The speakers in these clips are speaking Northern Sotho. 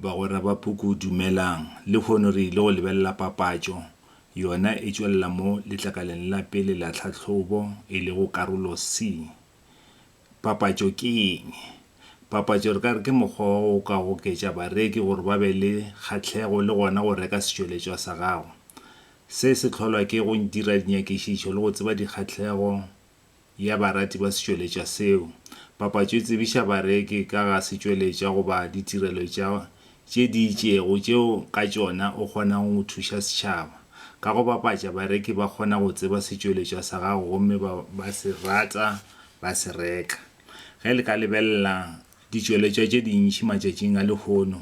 Bagwera ba Puku Dumelang! Lehono re ile go lebelela papatšo yona e tšwelela mo letlakaleng la pele la tlhahlobo, e lego Karolo C. Papatšo ke eng? Papatšo re ka re ke mokgwa wa go ka goketša bareki gore ba be le kgahlego le gona go reka setšweletšwa sa gago. Se se hlolwa ke go dira dinyakišišo le go tseba dikgahlego ya barati ba setšweletša seo. Papatšo e tsebiša bareki ka ga setšweletša goba ditirelo tša tše di itšego tšeo ka tšona o kgonago go thuša setšhaba. Ka go bapatša, bareki ba kgona go tseba setšweletša sa gago gomme ba ba se rata ba se reka. Ge le ka lebelela ditšweletšwa tše dintši matšatšing a lehono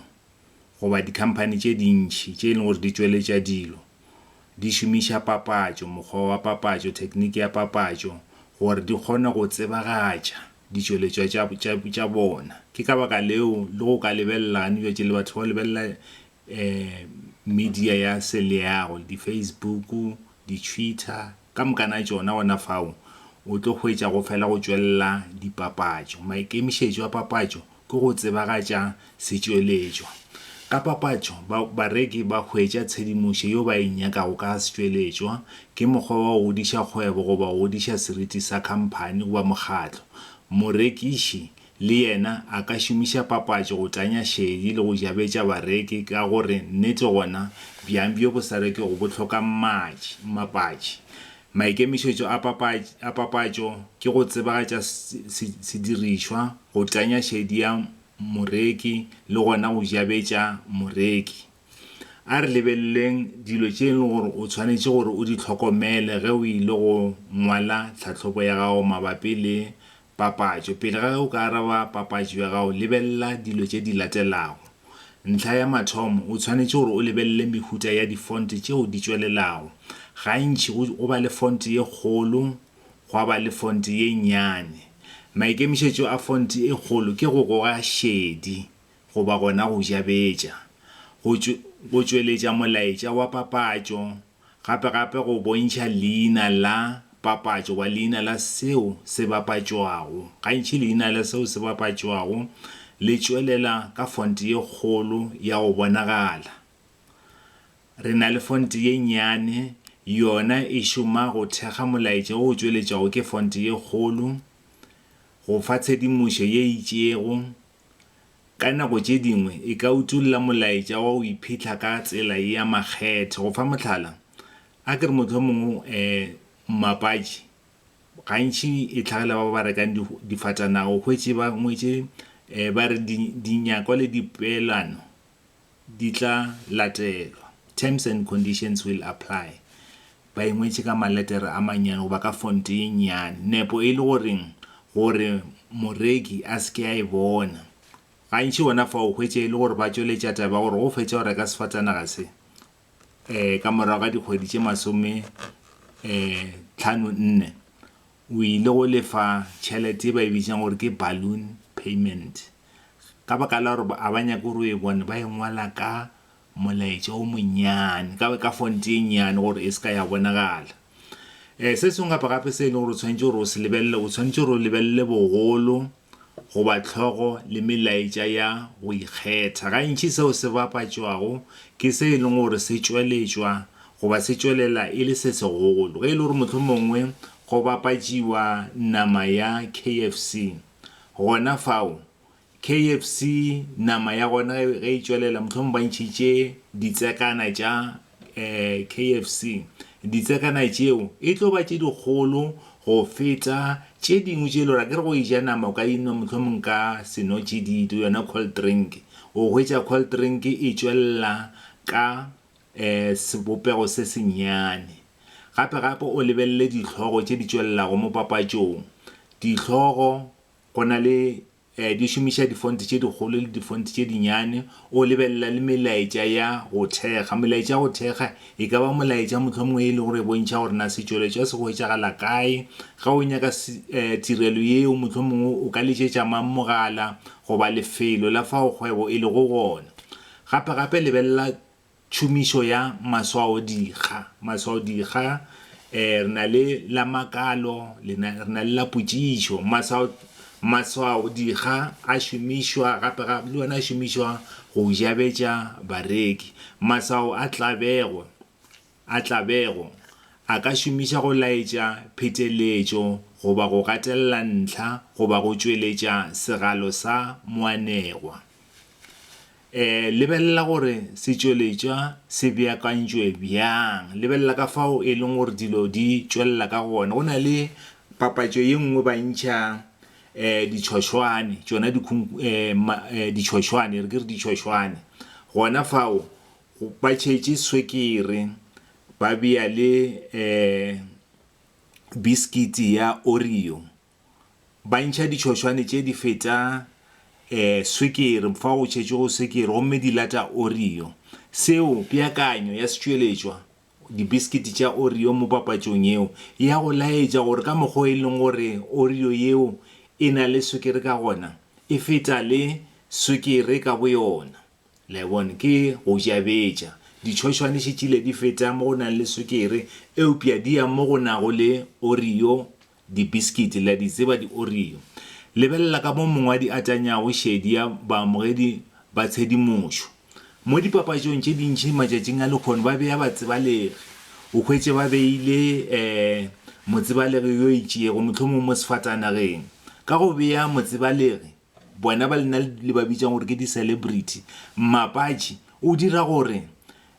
goba dikhamphani tše dintši tše e lego gore di tšweletša dilo, Di šomiša papatšo, mokgwa wa papatšo, thekniki ya papatšo gore di kgone go tsebagatša ditšweletšwa tša, tša, tša bona. Ke ka baka leo le go ka lebelela gane bjatši le batho ba go lebelela um media ya seleago, di-Facebook, di-Twitter, Ka moka na tšona gona fao o tlo hwetša go fela go tšwelela dipapatšo. Maikemišetšo a papatšo ke go tsebagatša setšweletšwa. Ka papatšo, ba, bareki ba hwetša tshedimošo yeo ba e nyakago ka ga setšweletšwa. Ke mokgwa wa go godiša kgwebo goba go godiša seriti sa khamphani goba mokgatlo. Morekiši Le yena a ka šomiša papatšo go tanya šedi le go jabetša bareki ka go re nnete gona bjang bjo bo sa rekego bo hloka mmatši, mmapatši. Maikemišetšo a papatši, a papatšo ke go tsebagatša se, se, sedirišwa, go tanya šedi ya moreki le gona go jabetša moreki. A re lebeleleng dilo tše e lego gore o tshwanetše gore o di hlokomele ge o ile go ngwala tlhahlobo ya gago mabapi le Papatšo. Pele ga ge o ka araba papatšo ya gago, lebelela dilo tše di latelago. Ntlha ya mathomo, o tshwanetše gore o lebelele mehuta ya difonte tšeo di tšwelelago. Gantši go go ba le fonte ye kgolo gwa ba le fonte ye nnyane. Maikemišetšo a fonte e kgolo ke go goga šedi goba gona go jabetša go go tšweletša molaetša wa papatšo. gapegape go bontšha leina la papatšo goba leina la seo se bapatšwago. Gantši leina la seo se bapatšwago le tšwelela ka fonte ye kgolo ya go bonagala. Re na le fonte ye nnyane, yona e šoma go thekga molaetša o tšweletšwago ke fonte ye kgolo, go fa tshedimošo ye itšego, Ka nako tše dingwe e ka utolla molaetša wa go iphitlha ka tsela ya makgethe. Go fa mohlala, a ke re mohlomongwe mmapatši gantši e tlhagela ba ba rekang difatanaga o hwetše ba ngwetše ba re dinyakwa le dipeelano. di tla latelwa, terms and conditions will apply, ba e ngwetše ka maletere a mannyane goba ka fonte ye nnyane, nepo e le gore gore moreki a se ke a e bona. Gantši gona fa o hwetša e le gore ba tšweletša taba ya gore ge o fetša go reka sefatanaga se, um ka morago ga dikgwedi tše masome um tlhano nne, O ile go lefa tšhelete ye ba e bitšang gore ke balloon payment ka baka la gore a ba nyake gore o e bone, ba e ngwala ka molaetša o monnyane, ka, ka font e nnyane gore e se ka ya bonagala. Um se sengwe gape-gape se e leng gore o tshwanetše gore o se lebelele, o tshwanetše gore o lebelele bogolo goba hlogo le melaetša ya go ikgetha. Gantši seo se bapatšwago ke se e lego gore se tšweletšwa goba se tšwelela e le se segolo. Ge e le gore mohlomongwe go bapatšiwa nama ya KFC, gona fao KFC nama ya gona ge e tšwelela mohlomongwe ba ntšhitše ditsekana tša KFC, ditsakana tšeo e tlo ba tše dikgolo go feta tše dingwe tše e le gore akere go e ja nama o ka e nwa mohlomong ka senotšididi, yona cold drink. O hwetša cold drink e tšwelela ka sebopego se sennyane. Gape-gape o lebelele dihlogo tše di tšwelelago mo papatšong. Dihlogo go na le Di šomiša difonte tše dikgolo le difonte tše dinyane. O lebelela le melaetša ya go thekga. Melaetša ya go thekga e ka ba molaetša mohlomongwe e lego gore e bontšha gore na setšweletšwa se hwetšagala kae. Ge o nyaka tirelo yeo, mohlomongwe o ka letšetša mang mogala goba lefelo la fao kgwebo e lego gona. Gape-gape lebelela tšhomišo ya maswaodikga, maswaodikga, eh, re na le la makalo, le na, re na le la potšišo. Maswao, maswaodikga a šomišwa gape ga, le ona a šomišwa go jabetša bareki. Maswao a tlabego, a tlabego a ka šomiša go laetša pheteletšo goba go gatelela ntlha goba go tšweletša segalo sa moanegwa. Lebelela gore setšweletšwa se beakantšwe bjang. Lebelela ka fao e leng gore dilo di tšwelela ka gona. Go na le papatšo ye nngwe ba ntšha ditšhošwane, tšona ditšhošwane, re ke re ditšhošwane. Gona fao ba tšhetše swekere, ba bea le bisikiti ya Oreo. Ba ntšha ditšhošwane tše di feta um swikiri fa go tšhetšwego swikiri gomme di lata Oreo. Seo, peakanyo ya setšweletšwa, dibiskiti tša Oreo mo papatšong yeo, e ya go laetša gore ka mokgwa o e leng gore Oreo yeo e na le swikiri ka gona, e feta le swikiri ka boyona. Le a e bona? Ke go jabetša. Ditšhošwane še tšile di feta mo go nang le swikiri, eupša di ya mo go nago le Oreo Dibiskiti, le a di tseba, di-Oreo. Lebelela ka mo mongwadi a tanyago šedi ya baamogedi ba tshedimošo. Mo dipapatšong tše dintši matšatšing a lehono ba bea batsebalegi, o hwetše ba beile um motsebalegi yo itšego, mohlomongwe mo sefatanageng. Ka go bea motsebalegi, Bona ba lena le ba bitšang gore ke di-celebrity. Mmapatši o dira gore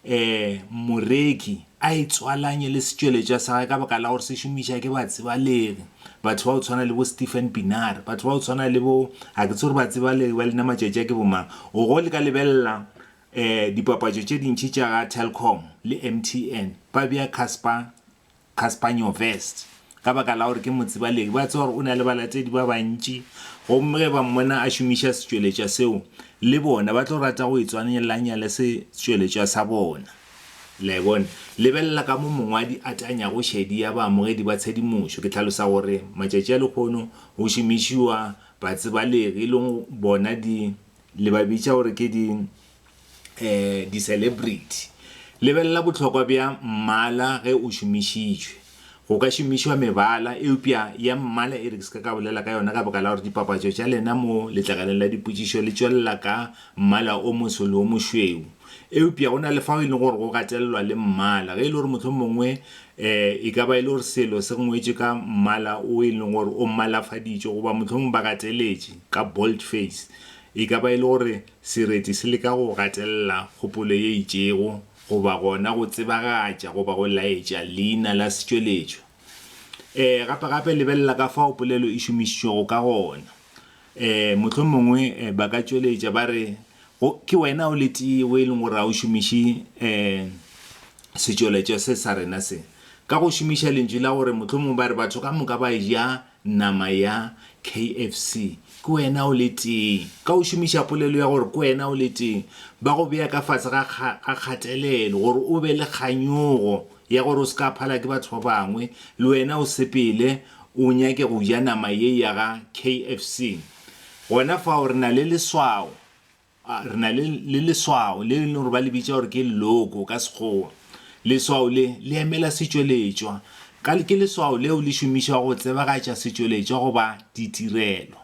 um moreki a itswalanye le setšweletšwa sa gage ka baka la gore se šomiša ke batsebalegi, batho ba go tshwana le bo Stephen Pienaar, batho ba go tshwana le bo, ga ke tsebe gore batsebalegi ba lena matšatši a ke bomang. O go le ka lebelela um dipapatšo tše dintši tša ga Telkom le M_T_N ba bea Casper Caspagnovest ka baka la gore ke motsibalegi. Ba tseba gore o na le balatedi ba bantši, gomme ge ba mmona a šomiša setšweletšwa seo, le bona ba tlo rata go itswanelanya le setšweletšwa sa bona. Le a e bona? Lebelela ka mo mongwadi a tanyago šedi ya baamogedi ba tshedimošo. Ke hlalosa gore matšatši a lehono go šomišiwa batsibalegi, e lego bona di, le ba bitša gore ke di, diselebriti. Lebelela bohlokwa bja mmala ge o šomišitšwe. Go ka šomišwa mebala, eupša ya mmala e re ke se ka ka bolela ka yona ka baka la gore dipapatšo tša lena mo letlakaleng la dipotšišo le tšwelela ka mmala o moso le o mošweu. Eupša go na le fao e lego gore go gatelelwa le mmala, ge e le gore mohlomongwe e ka ba e le gore selo se ngwetšwe ka mmala o e leng gore o mmalafaditšwe goba mohlomongwe ba gateletše ka boldface. E ka ba e le gore Sereti se leka go gatelela kgopolo ye itšego goba gona go tsebagatša goba go laetša leina la setšweletšwa. E, gape-gape lebelela ka fao polelo e šomišitšwego ka gona. E, mohlomongwe ba ka tšweletša ba re, Go, ke wena o le tee yo e lego gore ga o šomiše e, setšweletšwa se sa rena se. Ka go šomiša lentšu la gore mohlomongwe ba re batho ka moka ba eja Nama ya KFC, ke wena o le tee. Ka go šomiša polelo ya gore ke wena o le tee, ba go bea ka fase ga kgatelelo gore o be le kganyogo ya gore o se ka phala ke batho ba bangwe, le wena o sepele o nyake go ja nama ye ya ga KFC. Gona fao re na le leswao. Re na le, le leswao le e leng gore ba le bitša gore ke logo ka Sekgowa. Leswao le, le emela setšweletšwa. Ka le, ke leswao leo le šomišwago go tsebagatša setšweletšwa goba ditirelo.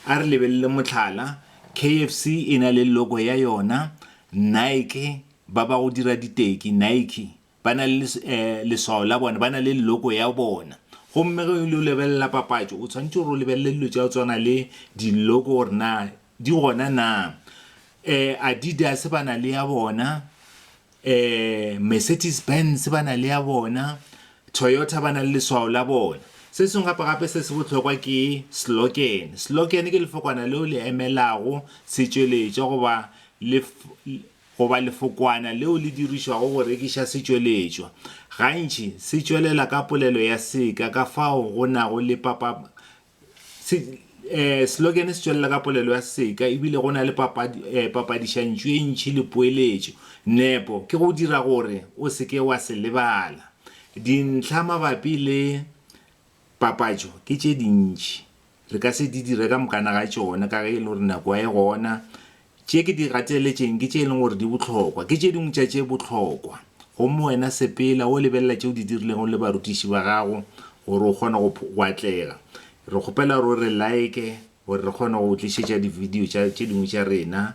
A re lebelele mohlala, KFC e na le logo ya yona, Nike, ba ba go dira diteki, Nike, ba na le leswao la bona, ba na le logo ya bona. Gomme ge o lebelela papatšo, o tshwanetse gore o lebelele dilo tša go tswana le di-logo gore na di gona na. Um Adidas ba na le ya bona, um Mercedes Benz ba na le ya bona, Toyota ba na le leswao la bona. Se sengwe gape-gape se se bohlokwa ke slogan. Slogan ke lefokwana leo le emelago setšweletšwa goba le goba lefokwana leo le dirišwago go rekiša setšweletšwa, gantši se tšwelela ka polelo ya seka ka fao go nago le papab se, eh, slogene se tšwelela ka polelo ya seka ebile go na le papad, eh, papadišantšu e ntši le poeletšo. Nepo ke go dira gore o se ke wa se lebala. Dintlha mabapi le papatšo ke tše dintši. re ka se di dire ka mokana ga tšona ka ge e le gore nako ga e gona. Tše ke di gateletšeng ke tše e leng gore di bohlokwa. Ke tše dingwe tša tše bohlokwa. Gomme wena sepela o lebelela tše o di dirilego le barutiši ba gago gore o kgone go go atlega. Re kgopela gore o re like gore re kgone go go tlišetša dividio tša tše dingwe tša rena.